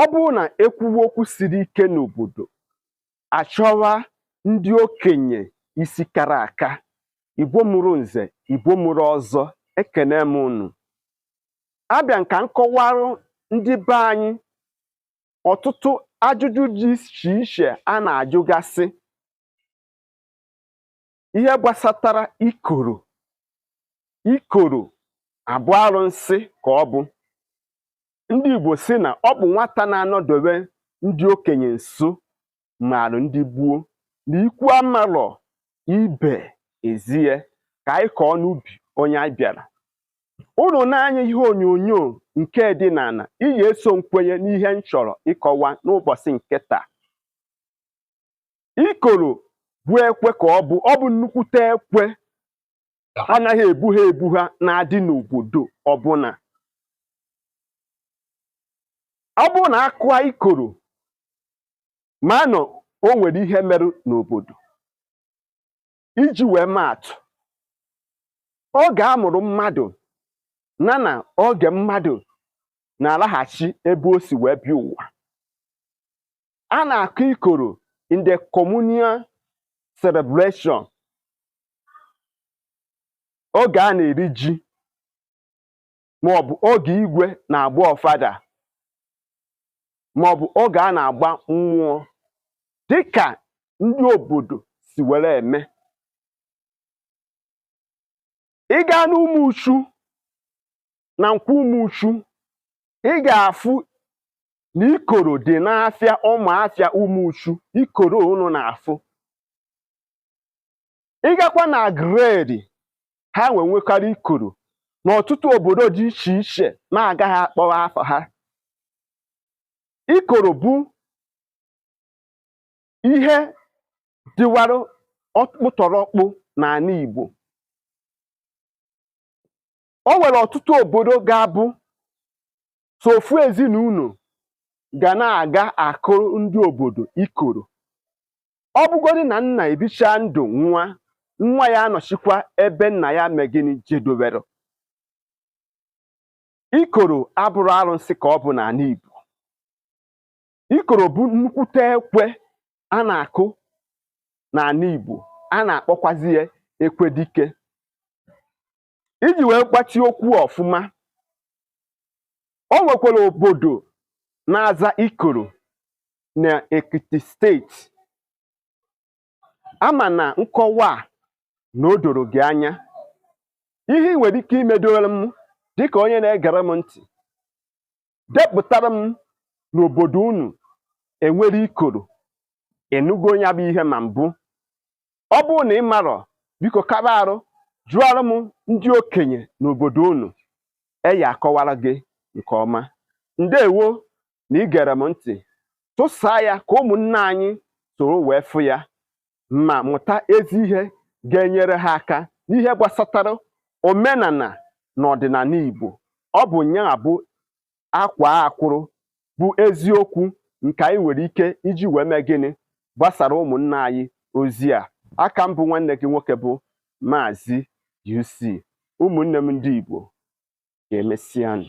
ọ bụrụ na e kwuwe okwu siri ike n'obodo a chọwa ndị okenye isi kara aka Igbo mụrụ nze Igbo mụrụ ọzọ ekene m unu abịa m ka m kọwarụ ndị be anyị ọtụtụ ajụjụ dị iche iche a na-ajụgasị ihe gbasatara ikoro ikoro a bụ arụsị ka ọ bụ ndị Igbo sị na ọ bụ nwata na-anọdobe ndị okenye nso marụ ndị gboo na ikwu amarọ ibe ezie ka anyị kọọ n'ubi onye anyị bịara unu n'anya ihe onyonyo nke dị n'ala ị ga-eso m kwenye n'ihe m chọrọ ịkọwa n'ụbọchị nke taa ikoro bụ ekwe ka ọ bụ ọ bụ nnukwute ekwe anaghị ebu ha ebu ha na-adị n'obodo ọbụla ọ bụrụ na a kụa ikoro ma na o nwere ihe merụ n'obodo iji wee maa atụ oge a mụrụ mmadụ na na oge mmadụ na-alaghachi ebe o si wee bịa ụwa a na-akụ ikoro in the communal celebration oge a na-eri ji maọbụ oge igwe na-agba ọfala maọbụ oge a na-agba mmụọ dịka ndị obodo si were eme ị gaa n'Ụmụchu na Nkwọ Ụmụchu ị ga-afụ na ikoro dị n'afịa ụmụ afịa Ụmụchu ikoro unu na-afụ ị gakwa na gredi ha nwe nwekarị ikoro n'ọtụtụ obodo dị iche iche na-agaghị akpọwa afa ha ikoro bụ ihe dịwara ọkpụtọrọkpụ n'ala Igbo o nwere ọtụtụ obodo ga-abụ so ofu ezinụlọ ga na-aga akụrụ ndị obodo ikoro ọ bụgodị na nna ebicha ndụ n'ụwa nwa ya anọchikwa ebe nna ya mee gịnị jedowere ikoro abụrọ arụsị ka ọ bụ n'ala Igbo ikoro bụ nnukwute ekwe a na-akụ n'ana Igbo a na-akpọkwazi ya ekwe dike iji wee gbachi okwu ọfụma o nwekwara obodo na-aza ikoro na Ekiti steeti ama m na nkọwa a na o doro gị anya ihe ị nwere ike imedoro m dịka onye na-egere m ntị depụtara m n'obodo unu e nwere ikoro ị nụgo nya bụ ihe ma mbụ ọ bụrụ na ị marọ biko kaba arụ jụọrọ m ndị okenye n'obodo unu e ya-akọwara gị nke ọma ndewo na i gere m ntị tụsaa ya ka ụmụnne anyị soro wee fụ ya ma mụta ezi ihe ga-enyere ha aka n'ihe gbasatara omenana na ọdịnana Igbo ọ bụ nya bụ akwaa akwụrụ bụ eziokwu nke anyị nwere ike iji wee mee gịnị gbasaara ụmụnna anyị ozi a a ka m bụ nwanne gị nwoke bụ Maazị UC ụmụnne m ndị Igbo ka emesịanụ